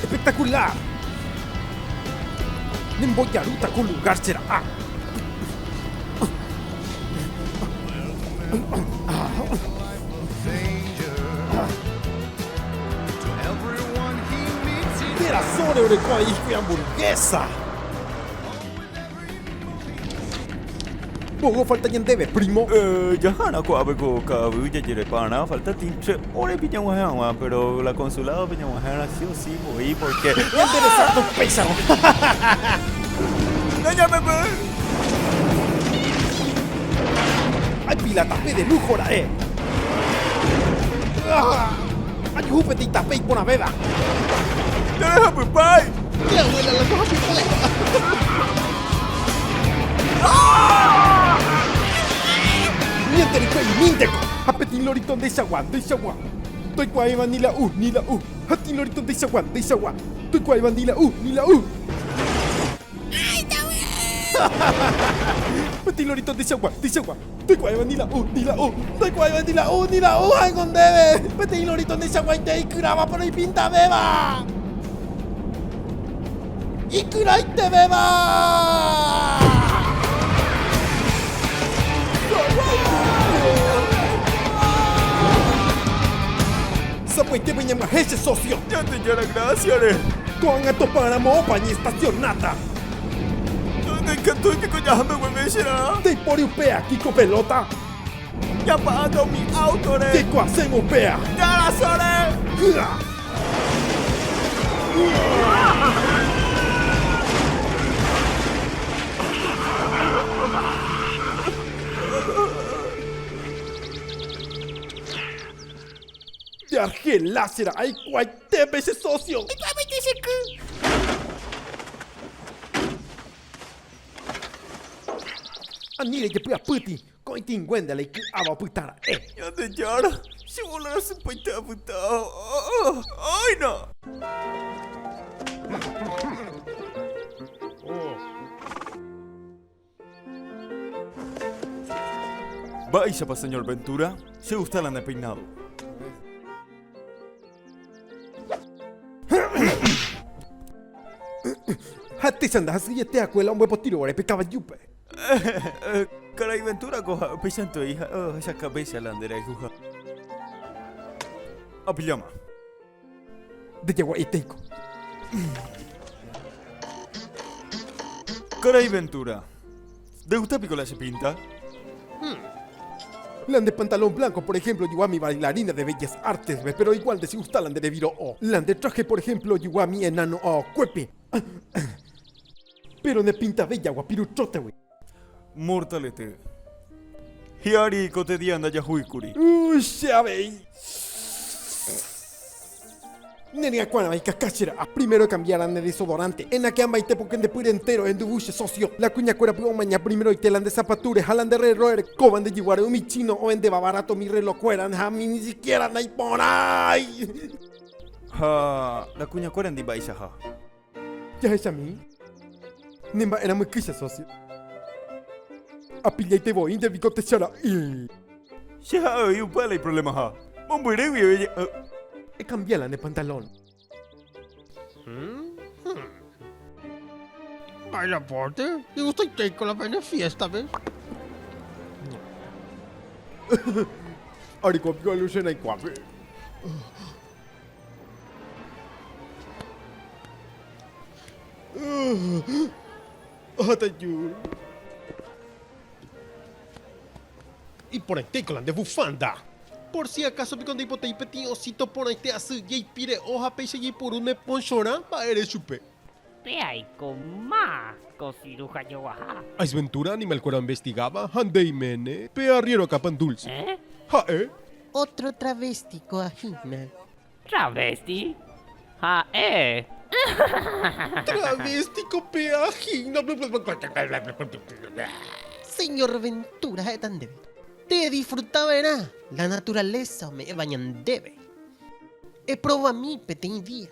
Espectacular! Ne mbojarúta ko lugar che ra'a. Térã sóre oreko aĩ hikuí hamburguesa. Mba'e ofalta ñandéve, prímo? Jahána ko'ápe ko ka'aguy jajerepa'arã falta tĩ che órepi ñag̃uahẽ hag̃ua, péro la konsuládope ñag̃uahẽrã si o si voi pórke ñande resardo upéicharõ. Nañamemby! Ay, pilátape de lújo ra'e! Ajuhu peteĩ tape iporãvéva. Nerehapypái! Che abuela la ndohapypái. Ñandereko'imínteko! Ha peteĩ lorito ndeichagua, ndeichagua. Toikuaáiva ni la u, ni la u. Ha peteĩ lorito ndeichagua, ndeichagua. Toikuaáiva ni la u, ni la u. Peteĩ lorito ndeichagua, ndeichagua. Ndoikuaáiva ni la u, ni la u. Ndoikuaáiva ni la u, ni la u ha'éngo ndéve. Peteĩ lorito ndechaguaite ikyrávape roipintavéva. Ikyraitevéva! Sapy'aitépa iñamyahéi che sósio. Ñandejára grásiare. Ko'ág̃a topáramo opa ñaestasionáta. Ndaikatúi piko jaháme guive che rã. Ndaipóri upe akĩ ko pelóta. Japa'áta umi áutore. Jaikuaasévo upéva. Ñarasóre. Hy'a. Nde Argelá che rã aikuái. Ndépe che sósio. Iky'águinte che ky. Ani rejepy'apýti ko'ẽtĩnguénte la iky'áva opyta ra'e. Ñandejára, che vóla rasýpaite apyta. Áina! Mba'éichapa señor Ventura che gusta la ne peinado. Ha techa ndahasyiveteakue la ombopotirovare pe kavajúpe. Karai Ventura ko ha upeichantevei ha ohecha kavécha la nde rayhuha. Apilláma. Ndejagua'etéiko. Karai Ventura, ndegusta piko la che pinta? Hum. La nde pantalón blanco, por ejemplo, ojogua mi bailarina de Bellas Artes-pe, pero igual ndechigusta la nde reviro'o. La nde traje, por ejemplo, ojogua mi enano aokuépe, pero ne pinta bella guapiru trota-gui. Mortalete. Hi'ári ko tedia ndajahúikuri. Che avei. Ne rya kuára vai kaka che ra'a. Primero ekambiára ne desodorante. Enakea mbaite poke nde pýre entéro enduvu che sósio. La kuña kuéra py omaña primeroite la nde zapatúre ha la nde rrélro erekóva nde jyguáre umi chino ohendevava ráto mi rréló kuéra ha mi ni sikiéra naiporãi. Ha la kuña kuéra ndi mba'eichaha. Jahechami ne mba'erã myky che sósio. Apillaite voi nde viko techa ra'y. Che ha'e oĩ upe ala iprolemaha. Mombyry guive oje'y. Ekambia la ne pantalón. Mba'e rapórte? Igustaiteiko la pene fiéstape. Areko piko aluche naikuápe. Iporãitéiko la nde vufanda. Por si acaso piko ndaipotai peteĩ osito porãite asy jaipire'o ha péicha jaipuru ne ponchorã mba'ére chupe. Pe aiko más ko siruja joguaha. Aisventura animal kuéra investigáva ha nde iméne pe arriero akã pan dulce. Ha'e. Otro travesti ko ahína. Travesti? Ha'e. Travesti ko pe ahína. Señor Ventura ha'éta ndéve. Te edisfruta verã la naturaleza ome'éva ñandéve. Eprova mi peteĩ día.